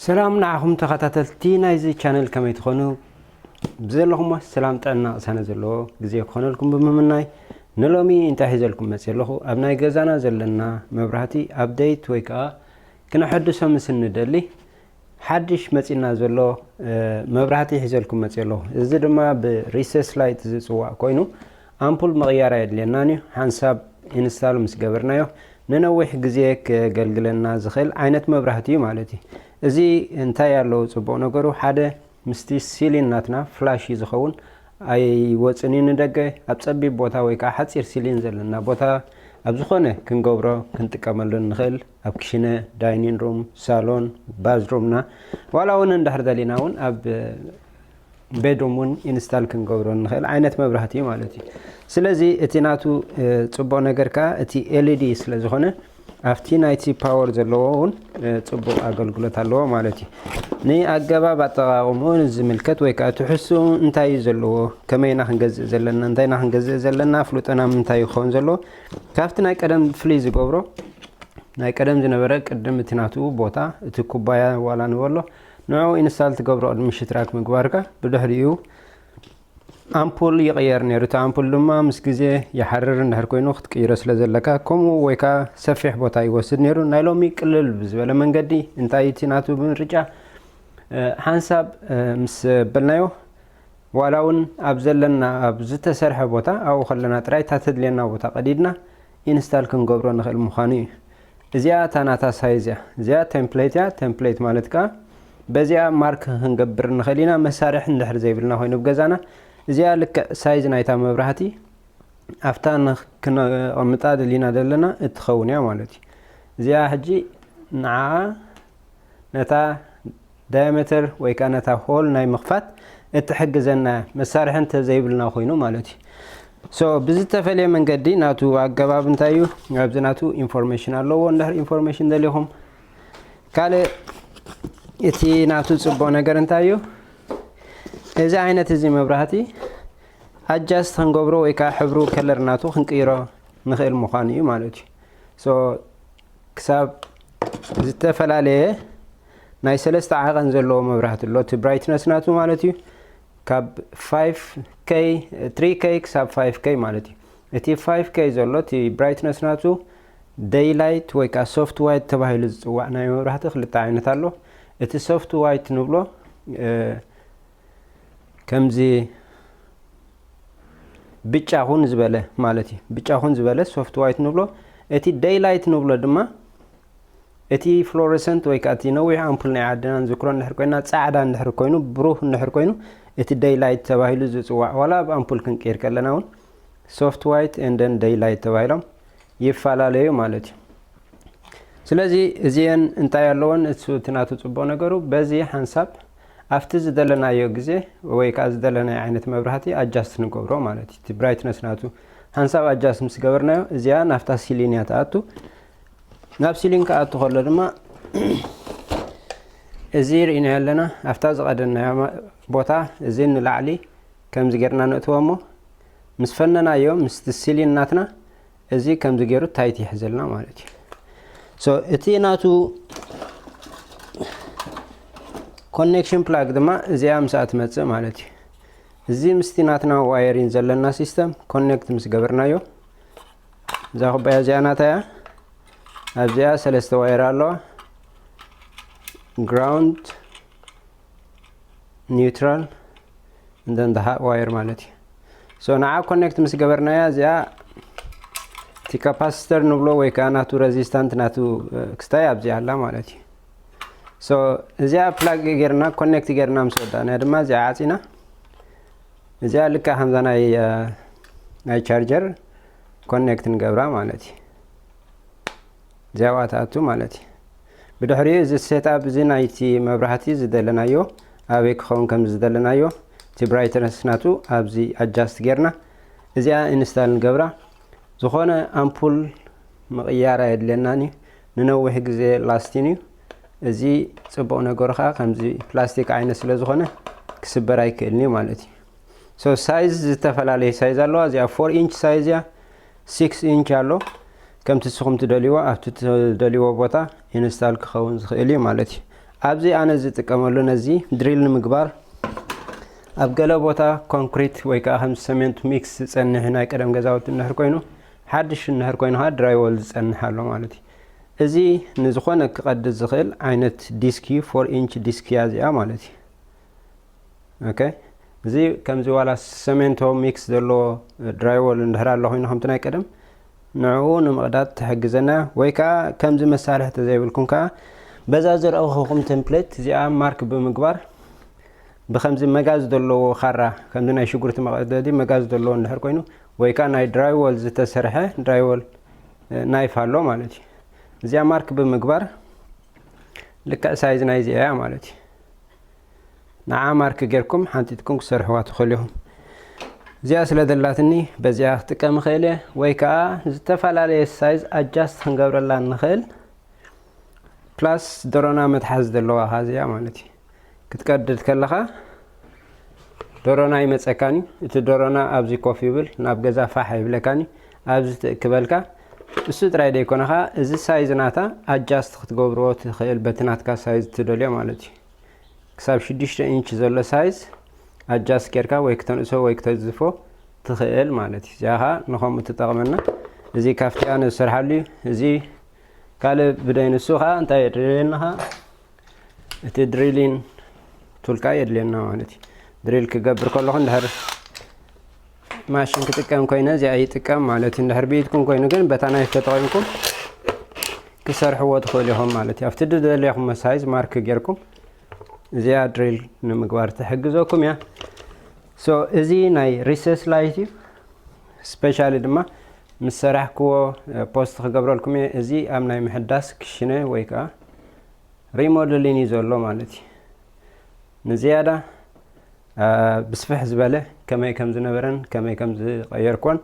ሰላም ንዓኹም ተኸታተልቲ ናይዚ ቻነል ከመይ ትኾኑ ብዘለኹሞ ሰላም ጥዕና ቅሳነ ዘለዎ ግዜ ክኾነልኩም ብምምናይ ንሎሚ እንታይ ሒዘልኩም መፅ ኣለኹ ኣብ ናይ ገዛና ዘለና መብራህቲ ኣብደይት ወይ ከዓ ክነሐድሶ ምስ እንደሊ ሓድሽ መጺና ዘሎ መብራህቲ ሒዘልኩም መጽየ ኣለኹ። እዚ ድማ ብ Recess Light ዝጽዋዕ ኮይኑ ኣምፑል ምቕያር ኣየድልየናን እዩ። ሓንሳብ ኢንስታል ምስ ገበርናዮ ንነዊሕ ግዜ ከገልግለና ዝኽእል ዓይነት መብራህቲ እዩ ማለት እዩ። እዚ እንታይ ኣለዎ ጽቡቕ ነገሩ ሓደ ምስቲ ሲሊን ናትና ፍላሽ እዩ ዝኸውን ኣይወጽን እዩ ንደገ ኣብ ጸቢብ ቦታ ወይ ከኣ ሓጺር ሲሊን ዘለና ቦታ ኣብ ዝኾነ ክንገብሮ ክንጥቀመሉ እንኽእል ኣብ ክሽነ ዳይኒን ሩም ሳሎን ባዝሩምና ዋላ እውን እንድሕር ደሊና እውን ኣብ ቤድሩም እውን ኢንስታል ክንገብሮ ንኽእል ዓይነት መብራህቲ እዩ ማለት እዩ ስለዚ እቲ ናቱ ፅቡቅ ነገር ከዓ እቲ ኤልዲ ስለ ዝኾነ ኣብቲ ናይቲ ፓወር ዘለዎ እውን ፅቡቅ ኣገልግሎት ኣለዎ ማለት እዩ ንኣገባብ ኣጠቃቅምኡ ዝምልከት ወይ ከዓ ትሕሱ እንታይ እዩ ዘለዎ ከመይና ክንገዝእ ዘለና እንታይና ክንገዝእ ዘለና ኣፍልጦና ምንታይ ይኸውን ዘለዎ ካብቲ ናይ ቀደም ፍልይ ዝገብሮ ናይ ቀደም ዝነበረ ቅድም እቲ ናቱ ቦታ እቲ ኩባያ ዋላ ንበሎ ንዕኡ ኢንስታል ትገብሮ ቅድሚ ሽትራክ ምግባርካ ብድሕሪኡ ኣምፑል ይቕየር ነይሩ እቲ ኣምፑል ድማ ምስ ግዜ ይሓርር እንድሕር ኮይኑ ክትቅይሮ ስለ ዘለካ ከምኡ ወይ ከዓ ሰፊሕ ቦታ ይወስድ ነይሩ ናይ ሎሚ ቅልል ብዝበለ መንገዲ እንታይ እቲ ናቱ ምርጫ ሓንሳብ ምስ በልናዮ ዋላ ውን ኣብ ዘለና ኣብ ዝተሰርሐ ቦታ ኣብኡ ከለና ጥራይ እታ ተድልየና ቦታ ቀዲድና ኢንስታል ክንገብሮ ንኽእል ምዃኑ እዩ። እዚኣ እታ ናታ ሳይዝ እያ። እዚኣ ቴምፕሌት እያ፣ ቴምፕሌት ማለት ከኣ በዚኣ ማርክ ክንገብር ንኽእል ኢና መሳርሒ እንድሕር ዘይብልና ኮይኑ ኣብ ገዛና። እዚኣ ልክዕ ሳይዝ ናይታ መብራህቲ ኣብታ ንክነቐምጣ ደሊና ዘለና እትኸውን እያ ማለት እዩ። እዚኣ ሕጂ ንዓኣ ነታ ዳያመተር ወይ ከኣ ነታ ሆል ናይ ምኽፋት እትሕግዘና መሳርሒ እንተ ዘይብልና ኮይኑ ማለት እዩ። ሶ ብዝተፈልየ መንገዲ ናቱ ኣገባብ እንታይ እዩ? ኣብዚ ናቱ ኢንፎርሜሽን ኣለዎ እንድሕር ኢንፎርሜሽን ደሊኹም። ካልእ እቲ ናቱ ጽቡቕ ነገር እንታይ እዩ? እዚ ዓይነት እዚ መብራህቲ ኣጃስት ክንገብሮ ወይ ከኣ ሕብሩ ከለር ናቱ ክንቅይሮ ንኽእል ምዃኑ እዩ ማለት እዩ። ክሳብ ዝተፈላለየ ናይ ሰለስተ ዓቐን ዘለዎ መብራህቲ ኣሎ እቲ ብራይትነስ ናቱ ማለት እዩ ካብ 5K 3K ክሳብ 5K ማለት እዩ እቲ 5K ዘሎ እቲ ብራይትነስ ናቱ ደይ ላይት ወይ ከዓ ሶፍት ዋይት ተባሂሉ ዝፅዋዕ ናይ መብራህቲ ክልተ ዓይነት ኣሎ እቲ ሶፍት ዋይት ንብሎ ከምዚ ብጫ ኹን ዝበለ ማለት እዩ ብጫ ኹን ዝበለ ሶፍት ዋይት ንብሎ እቲ ደይ ላይት ንብሎ ድማ እቲ ፍሎረሰንት ወይ ከዓ እቲ ነዊሕ ኣምፑል ናይ ዓድና ንዝክሮ እንድሕር ኮይና ፃዕዳ እንድሕር ኮይኑ ብሩህ እንድሕር ኮይኑ እቲ ደይ ላይት ተባሂሉ ዝፅዋዕ ዋላ ኣብ ኣምፑል ክንቅይር ከለና እውን ሶፍት ዋይት ኤንደን ደይ ላይት ተባሂሎም ይፈላለዩ ማለት እዩ ስለዚ እዚአን እንታይ ኣለዎን እቲ ናቱ ፅቡቅ ነገሩ በዚ ሓንሳብ ኣብቲ ዝደለናዮ ግዜ ወይ ከኣ ዝደለናዮ ዓይነት መብራህቲ ኣጃስት ንገብሮ ማለት እዩ እቲ ብራይትነስ ናቱ ሃንሳብ ኣጃስት ምስ ገበርናዮ እዚኣ ናብታ ሲሊን እያ ትኣቱ ናብ ሲሊን ክኣቱ ከሎ ድማ እዚ ርኢናዮ ኣለና ኣብታ ዝቐደናዮ ቦታ እዚ ንላዕሊ ከምዚ ጌርና ነእትዎ እሞ ምስ ፈነናዮ ምስቲ ሲሊን ናትና እዚ ከምዚ ገይሩ ታይት ይሕዘልና ማለት እዩ ሶ እቲ ናቱ ኮኔክሽን ፕላግ ድማ እዚኣ ምስኣ ትመፅእ ማለት እዩ እዚ ምስቲ ናትና ዋየሪን ዘለና ሲስተም ኮኔክት ምስ ገበርናዮ እዛ ኩባያ እዚኣ ናታ እያ ኣብዚኣ ሰለስተ ዋየር ኣለዋ ግራውንድ ኒውትራል እንደን ደ ሃት ዋየር ማለት እዩ ሶ ንዓ ኮኔክት ምስ ገበርናያ እዚኣ እቲ ካፓሲተር ንብሎ ወይ ከዓ ናቱ ረዚስታንት ናቱ ክስታይ ኣብዚኣ ኣላ ማለት እዩ ሶ እዚኣ ፕላግ ጌርና ኮኔክት ጌርና ምስ ወዳእናያ ድማ እዚኣ ዓፂና እዚኣ ልካ ከምዛ ናይ ናይ ቻርጀር ኮኔክት ንገብራ ማለት እዩ እዚኣ ዋትኣቱ ማለት እዩ ብድሕሪኡ እዚ ሴትኣፕ እዚ ናይቲ መብራህቲ ዝደለናዮ ኣበይ ክኸውን ከም ዝደለናዮ እቲ ብራይትነስ ናቱ ኣብዚ ኣጃስት ጌርና እዚኣ ኢንስታል ንገብራ ዝኾነ ኣምፑል ምቕያር ኣየድልየናን እዩ ንነዊሕ ግዜ ላስቲን እዩ እዚ ጽቡቕ ነገሩ ከዓ ከምዚ ፕላስቲክ ዓይነት ስለ ዝኾነ ክስበር ኣይክእልን እዩ ማለት እዩ ሶ ሳይዝ ዝተፈላለዩ ሳይዝ ኣለዋ እዚኣ ፎር ኢንች ሳይዝ እያ ሲክስ ኢንች ኣሎ ከምቲ ንስኹም ትደልይዎ ኣብቲ ትደልይዎ ቦታ ኢንስታል ክኸውን ዝኽእል እዩ ማለት እዩ ኣብዚ ኣነ ዝጥቀመሉ ነዚ ድሪል ንምግባር ኣብ ገለ ቦታ ኮንክሪት ወይ ከዓ ከም ሰሜንት ሚክስ ዝፀንሕ ናይ ቀደም ገዛውቲ እንድሕር ኮይኑ ሓድሽ እንድሕር ኮይኑ ከዓ ድራይወል ዝፀንሕ ኣሎ ማለት እዩ እዚ ንዝኾነ ክቐድድ ዝኽእል ዓይነት ዲስክ እዩ ፎር ኢንች ዲስክ እያ እዚኣ ማለት እዩ ኦኬ እዚ ከምዚ ዋላ ሰሜንቶ ሚክስ ዘለዎ ድራይዎል እንድሕር ኣሎ ኮይኑ ከምቲ ናይ ቀደም ንዕኡ ንምቕዳድ ትሕግዘና ወይ ከዓ ከምዚ መሳርሒ ተዘይብልኩም ከዓ በዛ ዘርእኹኹም ቴምፕሌት እዚኣ ማርክ ብምግባር ብከምዚ መጋዝ ዘለዎ ካራ ከምዚ ናይ ሽጉርቲ መቐደዲ መጋዝ ዘለዎ እንድሕር ኮይኑ ወይ ከዓ ናይ ድራይዎል ዝተሰርሐ ድራይዎል ናይፍ ኣሎ ማለት እዩ እዚኣ ማርክ ብምግባር ልክዕ ሳይዝ ናይዚ እያ ማለት እዩ ንዓ ማርክ ጌርኩም ሓንጢጥኩም ክሰርሕዋ ትኽእሉ ኢኹም። እዚኣ ስለ ዘላትኒ በዚኣ ክጥቀም እኽእል እየ ወይ ከዓ ዝተፈላለየ ሳይዝ ኣጃስት ክንገብረላ እንኽእል ፕላስ ዶሮና መትሓዝ ዘለዋ ኻ እዚኣ ማለት እዩ ክትቀድድ ከለኻ ዶሮና ይመፀካን እዩ እቲ ዶሮና ኣብዚ ኮፍ ይብል ናብ ገዛ ፋሕ ይብለካን እዩ ኣብዚ ትእክበልካ እሱ ጥራይ ደይኮነኻ እዚ ሳይዝ ናታ ኣጃስት ክትገብርዎ ትኽእል በቲ ናትካ ሳይዝ ትደልዮ ማለት እዩ ክሳብ ሽዱሽተ ኢንች ዘሎ ሳይዝ ኣጃስ ጌርካ ወይ ክተንእሶ ወይ ክተዝፎ ትኽእል ማለት እዩ እዚኣ ከዓ ንከምኡ ትጠቕመና እዚ ካፍቲያ ንዝሰርሓሉ እዩ እዚ ካልእ ብደይንሱ ከዓ እንታይ የድልየና ከዓ እቲ ድሪሊን ቱልካ የድልየና ማለት እዩ ድሪል ክገብር ከለኹ እንድሕር ማሽን ክጥቀም ኮይነ እዚኣ ይጥቀም ማለት እዩ እንድሕር ብኢድኩም ኮይኑ ግን በታ ናይፍ ተጠቒምኩም ክሰርሕዎ ትኽእሉ ኢኹም ማለት እዩ ኣብቲ ዝደለኹም መሳይዝ ማርክ ጌርኩም እዚኣ ድሪል ንምግባር ትሕግዘኩም እያ ሶ እዚ ናይ ሪሰስ ላይት እዩ ስፔሻሊ ድማ ምስ ሰራሕክዎ ፖስት ክገብረልኩም እየ እዚ ኣብ ናይ ምሕዳስ ክሽነ ወይ ከዓ ሪሞደሊን እዩ ዘሎ ማለት እዩ ንዝያዳ ብስፍሕ ዝበለ ከመይ ከም ዝነበረን ከመይ ከም ዝቐየርክዎን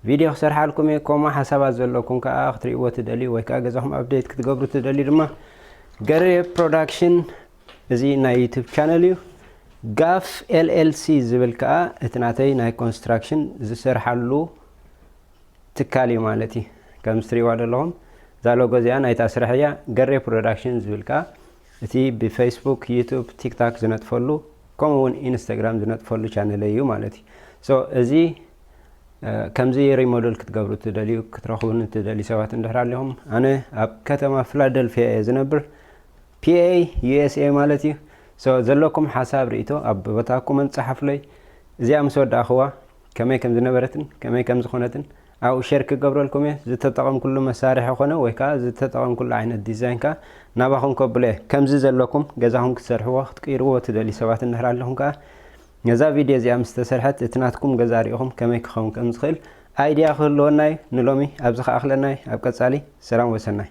ቪድዮ ክሰርሓልኩም እየ። ከምኡ ሓሳባት ዘለኩም ከኣ ክትርእይዎ ትደልዩ ወይ ከኣ ገዛኹም ኣብዴት ክትገብሩ ትደልዩ ድማ ገሬ ፕሮዳክሽን እዚ ናይ ዩቱብ ቻነል እዩ። ጋፍ ኤልኤልሲ ዝብል ከኣ እቲ ናተይ ናይ ኮንስትራክሽን ዝሰርሓሉ ትካል እዩ ማለት እዩ። ከምዚ ትርእይዋ ዘለኹም እዛ ሎጎ እዚኣ ናይታ ስራሕ እያ። ገሬ ፕሮዳክሽን ዝብል ከኣ እቲ ብፈይስቡክ ዩቱብ ቲክታክ ዝነጥፈሉ ከምኡ ውን ኢንስታግራም ዝነጥፈሉ ቻነለይ እዩ ማለት እዩ ሶ እዚ ከምዚ ሪሞደል ክትገብሩ ትደልዩ ክትረኽቡኒ ትደልዩ ሰባት እንድሕር ኣሊኹም ኣነ ኣብ ከተማ ፊላደልፊያ እየ ዝነብር ፒኤ ዩኤስኤ ማለት እዩ ሶ ዘለኩም ሓሳብ ርእቶ ኣብ ቦታኩምን ጸሓፍለይ እዚኣ ምስ ወዳእኽዋ ከመይ ከም ዝነበረትን ከመይ ከም ዝኾነትን ኣብኡ ሼር ክገብረልኩም እየ። ዝተጠቐምኩሉ መሳርሒ ኮነ ወይ ከኣ ዝተጠቐምኩሉ ዓይነት ዲዛይን ከኣ ናባኹም ከብሎ እየ። ከምዚ ዘለኩም ገዛኹም ክትሰርሕዎ ክትቅይርዎ ትደልዩ ሰባት እንድሕር ኣለኹም ከኣ ነዛ ቪድዮ እዚኣ ምስ ተሰርሐት እቲ ናትኩም ገዛ ርኢኹም ከመይ ክኸውን ከም ዝኽእል ኣይድያ ክህልወና እዩ። ንሎሚ ኣብዚ ክኣኽለና እዩ። ኣብ ቀጻሊ ሰላም ወሰናይ።